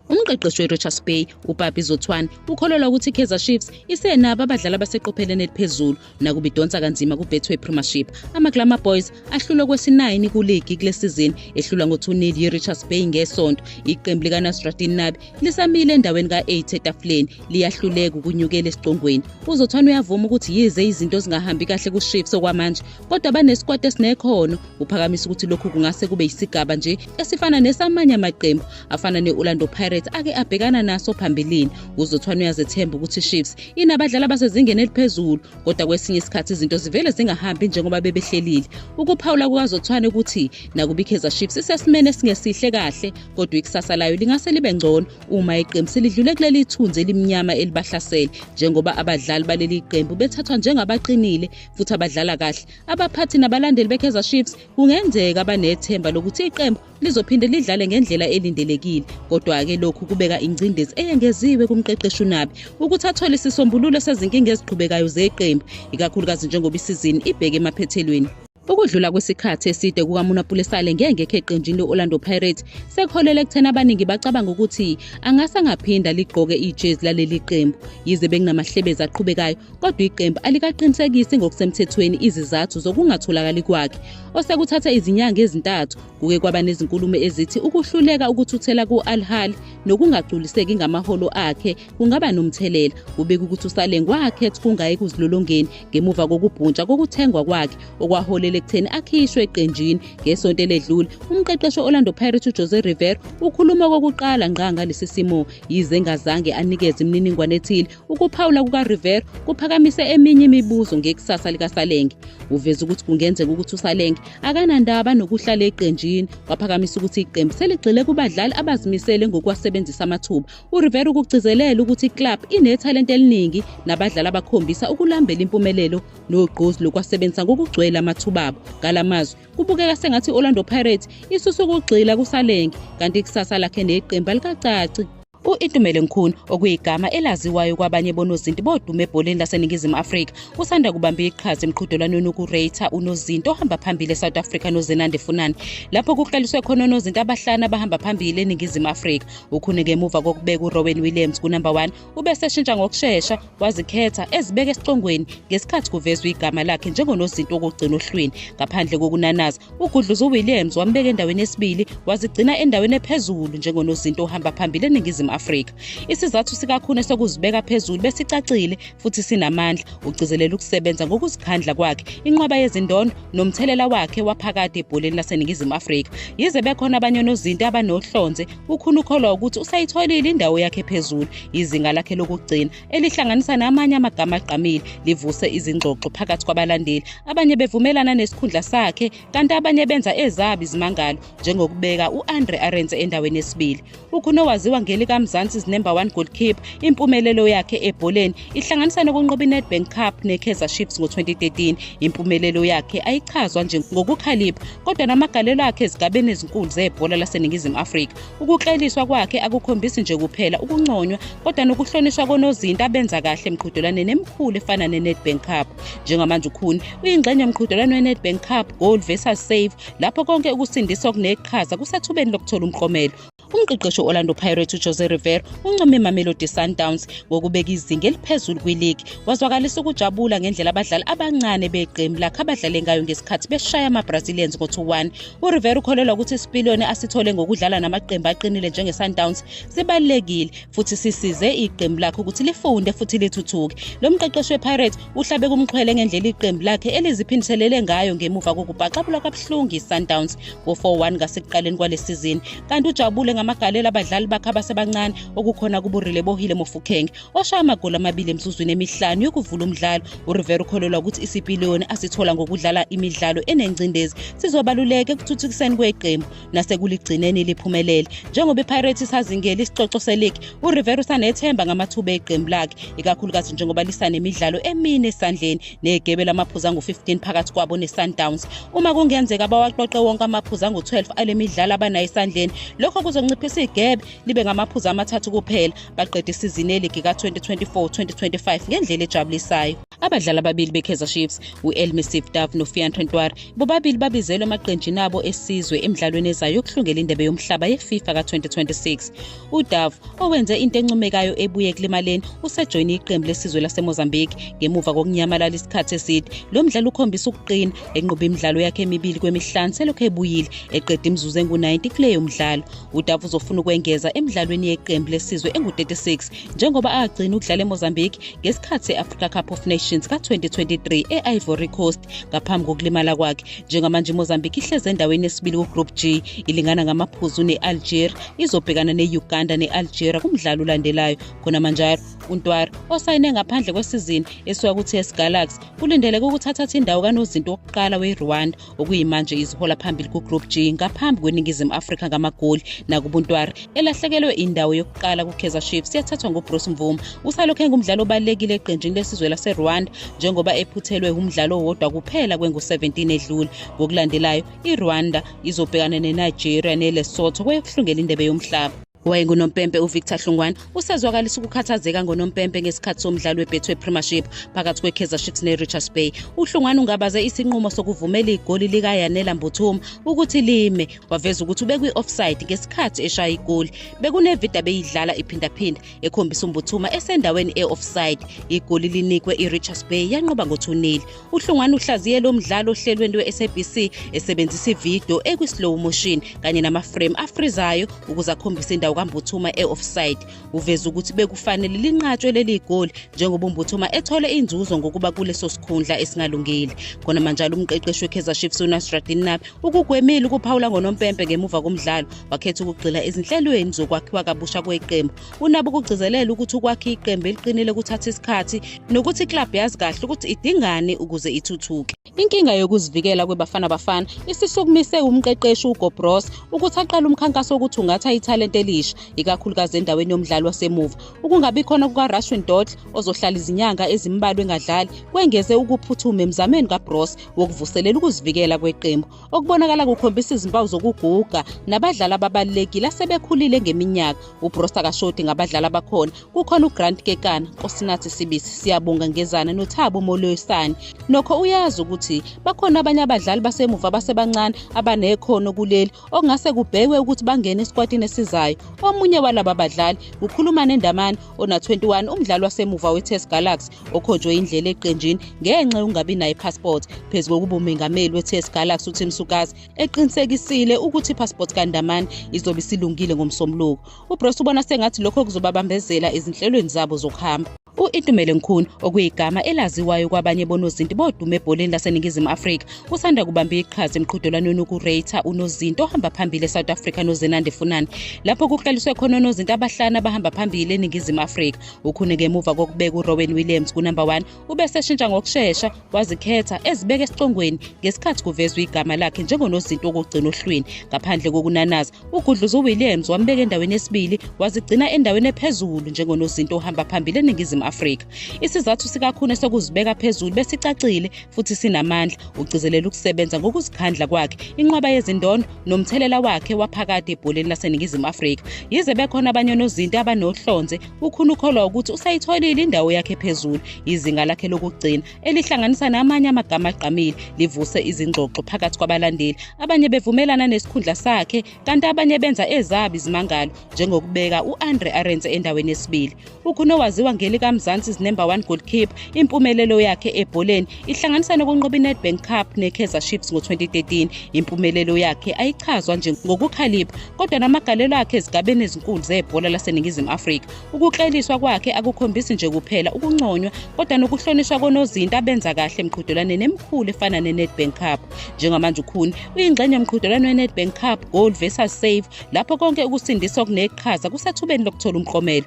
Umqeqeshi weRichards Bay, uPapi Zothwane, ukholelwa ukuthi iKaizer Chiefs isenabo abadlali abaseqopheleni eliphezulu nakuba idonsa kanzima kuBetway Premiership. AmaGlamour Boys ahlulwe kwesi-9 kuligi kule sizini, ehlulwa ngo-2-0 yiRichards Bay ngesonto. Iqembu likaNasruddin Nabi lisamile endaweni ka-8 etafuleni, liyahluleka ukunyukela esigcongweni. UZothwane uyavuma ukuthi yize izinto zingahambi kahle kuChiefs okwamanje, kodwa banesikwati esinekhono uphakamisa ukuthi lokhu kungase kube yisigaba nje esifana nesamanye amaqembu afana ne-orlando pirates ake abhekana naso phambilini uzothwane uyazethemba ukuthi chiefs inabadlali abasezingeni eliphezulu kodwa kwesinye isikhathi izinto zivele zingahambi njengoba bebehlelile ukuphawula kukazothwane ukuthi nakubikeza chiefs isesimeni esingesihle kahle kodwa ikusasa layo lingase libe ngcono uma iqembu selidlule kuleli thunzi elimnyama elibahlasele njengoba abadlali baleli qembu bethathwa njengabaqinile futhi abadlala kahle abaphathi nabalandeli beKaizer Chiefs kungenzeka banethemba lokuthi iqembu lizophinde lidlale ngendlela elindelekile kodwa-ke lokhu kubeka ingcindezi eyengeziwe kumqeqeshi unabi ukuthi athole isisombululo sezinkinga eziqhubekayo zeqembu ikakhulukazi njengoba isizini ibheke emaphethelweni Ukudlula kwesikhathi eside kukaMuna Pulesale ngengekho eqenjini le-Orlando Pirates sekuholele ekutheni abaningi bacabanga ukuthi angase angaphinda ligqoke ijezi laleli qembu yize bekunamahlebezi aqhubekayo kodwa iqembu alikaqinisekisi ngokusemthethweni izizathu zokungatholakali kwakhe osekuthatha izinyanga ezintathu kuke kwaba nezinkulumo ezithi ukuhluleka ukuthuthela ku-al-hal nokungagculiseki ngamaholo akhe kungaba nomthelela kubeka ukuthi usaleng wakhet kungaye kuzilolongeni ngemuva kokubhuntsha kokuthengwa kwakhe okwaholela ekutheni akhishwe eqenjini ngesonto eledlule umqeqeshi orlando pirate ujose river ukhuluma kokuqala ngqa ngalesi simo yize engazange anikeze imininingwane ethile Ukuphawula kukaRivero kuphakamise eminye imibuzo ngekusasa likaSalenge. Uveze ukuthi kungenzeka ukuthi uSalenge akanandaba nokuhlala eqenjini, waphakamisa ukuthi iqembu seligxile kubadlali abazimisele ngokuwasebenzisa amathuba. URivero ukugcizelele ukuthi iclub inethalente eliningi nabadlali abakhombisa ukulambela impumelelo nogqozi lokwasebenzisa ngokugcwele amathuba abo. Ngala mazwi kubukeka sengathi i-Orlando Pirates isuse ukugxila kuSalenge kanti ikusasa lakhe neqembu alikacaci. U-Itumele Nkhuni okuyigama elaziwayo kwabanye bonozinti bodume ebholeni laseNingizimu Afrika usanda kubamba iqhaza emqhudelwanweni wokureyitha unozinti ohamba phambili eSouth Africa noZenande Funani lapho kuqaliswe khona onozinti abahlanu abahamba phambili eNingizimu Afrika. Ukhuni ngemuva kokubeka uRowen Williams kunumber 1 ubeseshintsha ngokushesha wazikhetha ezibeka esicongweni ngesikhathi kuvezwa igama lakhe njengonozinti wokugcina ohlwini ngaphandle kokunanaza ugudluza uwilliams wambeka endaweni yesibili wazigcina endaweni ephezulu njengonozinti ohamba phambili eningizimu afrika isizathu sikakhune sokuzibeka phezulu besicacile futhi sinamandla ugcizelela ukusebenza ngokuzikhandla kwakhe inqwaba yezindondo nomthelela wakhe waphakade ebholeni laseningizimu afrika yize bekhona abanye onozinti abanohlonze Ukhulu ukholwa ukuthi usayitholile indawo yakhe phezulu izinga lakhe lokugcina elihlanganisa namanye amagama agqamile livuse izingxoxo phakathi kwabalandeli abanye bevumelana nesikhundla sakhe kanti abanye benza ezabi izimangalo njengokubeka u-andre arense endaweni yesibili ukhulu owaziwa ngelikamzansi number one goalkeeper impumelelo yakhe ebholeni ihlanganisa nokunqoba inedbank cup nekaizer chiefs ngo-2013 impumelelo yakhe ayichazwa njengokukhalipha kodwa namagalelo akhe ezigabeni ezinkulu zebhola laseningizimu afrika ukukleliswa kwakhe akukhombisi nje kuphela ukunconywa kodwa nokuhlonishwa konozinti abenza kahle emqhudelwaneni emikhulu efana nenedbank cup njengamanje ukhuni uyingxenye yomqhudelwano wenedbank cup goal versus save lapho konke ukusindisa okuneqhaza kusethubeni lokuthola umklomelo umqeqeshi we-orlando pirates ujose rivero uncome imamelodi sundowns ngokubeka izinga eliphezulu kwiligi wazwakalisa ukujabula ngendlela abadlali abancane beqembu lakhe abadlale ngayo ngesikhathi beshaya amabrazilians ngo-2-1 urivero ukholelwa ukuthi isipiliyoni asithole ngokudlala namaqembu aqinile njenge-sundowns sibalulekile futhi sisize iqembu lakhe ukuthi lifunde futhi lithuthuke lo mqeqeshi wepirates uhlabe kumxhwele ngendlela iqembu lakhe eliziphindiselele ngayo ngemuva kokubhaxabulwa kabuhlungu i-sundowns ngo-4-1 ngasekuqaleni kwale sizini kanti ujabule ngamagalela abadlali bakhe abasebancane okukhona kuburile bohile mofukenge oshaya amagoli amabili emsuzwini emihlanu yokuvula umdlalo urivera ukholelwa ukuthi isipiliyoni asithola ngokudlala imidlalo enengcindezi sizobaluleka ekuthuthukiseni kweqembu nasekuligcineni liphumelele njengoba ipirates isazingeli isicoco seligi urivera usanethemba ngamathuba eqembu lakhe ikakhulukazi njengoba lisanemidlalo emine esandleni negebe lamaphuzu angu-15 phakathi kwabo ne-sundowns uma kungenzeka bawaqoqe wonke amaphuzu angu-12 ale midlalo abanayo esandleni lokho kuzonciphisa igebe libe ngamaphuzu amathathu kuphela baqeda isizini eligi ka-2024-2025 ngendlela ejabulisayo abadlali ababili bekaizer chiefs u-elmisif dav nofianton twar bobabili babizelwe emaqenjini abo esizwe emidlalweni ezayo yokuhlungela indebe yomhlaba yefifa ka-2026 UDove, owenze into encomekayo ebuye ekulimaleni, usejoyine iqembu lesizwe laseMozambique ngemuva kokunyamalala isikhathi eside. Lo mdlali ukhombisa ukuqina, enqobe imidlalo yakhe emibili kwemihlanu selokhu ebuyile, eqeda imizuzu engu-90 kuleyo mdlalo. UDove uzofuna ukwengeza emidlalweni yeqembu lesizwe engu-36 njengoba agcina ukudlala eMozambique ngesikhathi se-Africa Cup of Nations ka-2023 e-Ivory Coast ngaphambi kokulimala kwakhe. Njengamanje iMozambique ihlezi endaweni yesibili ku-Group G, ilingana ngamaphuzu ne-Algeria izobhekana ne-uganda ne-algeria kumdlalo olandelayo khonamanjalo untwari osayine ngaphandle kwesizini esuka ku-ts galaxy kulindeleke ukuthi athathe indawo kanozinto wokuqala werwanda okuyimanje izihola phambili kugroup g ngaphambi kweningizimu afrika ngamagoli nakubuntwari elahlekelwe indawo yokuqala kukaizer chiefs yathathwa ngubruce mvuma usalokhu engumdlalo obalulekile eqenjini lesizwe laserwanda njengoba ephuthelwe umdlalo owodwa kuphela kwengu-17 edlule ngokulandelayo irwanda izobhekana nenigeria nelesotho kweyokuhlungela indebe yomhlaba wayengunompempe uvictor hlungwane usezwakalisa ukukhathazeka ngonompempe ngesikhathi somdlalo webetway premiership phakathi kwekaizer chiefs nerichards bay uhlungwane ungabaze isinqumo sokuvumela igoli likayanela mbuthuma ukuthi lime waveza ukuthi ubekwi-offside ngesikhathi eshaya igoli bekunevida beyidlala iphindaphinda ekhombisa umbuthuma esendaweni e-offside igoli linikwe irichards bay yanqoba ngothunneli uhlongwane uhlaziye lo mdlalo ohlelweni lwe-sabc esebenzisa ividiyo ekwi-slow motion kanye namaframe afrizayo ukuze akhombise indawo kambuthuma e-offside uveze ukuthi bekufanele linqatshwe leli goli njengoba umbuthuma ethole inzuzo ngokuba kuleso sikhundla esingalungile khona manjalo umqeqeshi wekaizer chiefs unasradin nabi ukugwemile ukuphawula ngonompempe ngemuva komdlalo wakhetha ukugxila ezinhlelweni zokwakhiwa kabusha kweqembu unabo ukugcizelela ukuthi ukwakha iqembu eliqinile kuthatha isikhathi nokuthi iklabhu yazi kahle ukuthi idingani ukuze ithuthuke inkinga yokuzivikela kwebafana bafana isisukumise umqeqeshi ugobros ukuthi aqale umkhankaso wokuthungatha ithalente elisha ikakhulukazi endaweni yomdlali wasemuva ukungabi khona kukarashwin dodl ozohlala izinyanga ezimbalwa engadlali kwengeze ukuphuthuma emzameni kabros wokuvuselela ukuzivikela kweqembu okubonakala kukhombisa izimpawu zokuguga nabadlali ababalulekile asebekhulile ngeminyaka ubrosta kashodi ngabadlali abakhona kukhona ugrant kekana nkosinathi sibisi siyabonga ngezana nothabo moloyisani nokho uyazi ukuthi bakhona abanye abadlali basemuva abasebancane abanekhono kuleli okungase kubhekwe ukuthi bangene esikwatini esizayo omunye walaba badlali ukhuluma nendamane ona-21 umdlali wasemuva wetest galaxy okhojwe indlela eqenjini ngenxa yokungabi nayo ipassport phezu kokuba umengameli we-ts galaxy utim sukazi eqinisekisile ukuthi ipassport kandamani izobe isilungile ngomsombuluko ubros ubona sengathi lokho kuzobabambezela ezinhlelweni zabo zokuhamba u-itumele nkhuni okuyigama elaziwayo kwabanye bonozinti bodume ebholeni laseningizimu afrika usanda kubamba iqhaza emqhudelwanweni ukureytha unozinti ohamba phambili esouth africa nozenande funani lapho kuqaliswe khona onozinti abahlanu abahamba phambili eningizimu afrika ukhune ngemuva kokubeka uRowen Williams kunumber 1 ubese eshintsha ngokushesha wazikhetha ezibeka esicongweni ngesikhathi kuvezwa igama lakhe njengonozinto wokugcina ohlwini ngaphandle kokunanaza ugudluza uWilliams wambeka endaweni yesibili wazigcina endaweni ephezulu njengonozinto ohamba phambili eningizimu Afrika isizathu sikakhune sokuzibeka phezulu besicacile futhi sinamandla ugcizelela ukusebenza ngokuzikhandla kwakhe inqwaba yezindondo nomthelela wakhe waphakade ebholeni laseNingizimu Afrika. Yize bekhona abanye onozinti abanohlonze, uKhune ukholwa ukuthi usayitholile indawo yakhe phezulu. Izinga lakhe lokugcina elihlanganisa namanye amagama agqamile livuse izingxoxo phakathi kwabalandeli. Abanye bevumelana nesikhundla sakhe kanti abanye benza ezabo izimangalo njengokubeka u-Andre Arendse endaweni yesibili. UKhuno waziwa ngelikaMzansi's number one goalkeeper. Impumelelo yakhe ebholeni ihlanganisa nokunqoba iNedbank Cup neKaizer Chiefs ngo-2013. Impumelelo yakhe ayichazwa nje ngokukhalipha kodwa namagalelo akhe ezigabeni ezinkulu zebhola laseNingizimu Afrika. Ukukleliswa kwakhe akukhombisi nje kuphela ukunconywa kodwa nokuhlonishwa konozinti abenza kahle emqhudelwaneni emikhulu efana neNedbank Cup. Njengamanje uKhuni uyingxenye yomqhudelwano weNedbank Cup Goal versus Save lapho konke ukusindisa okuneqhaza kusethubeni lokuthola umklomelo.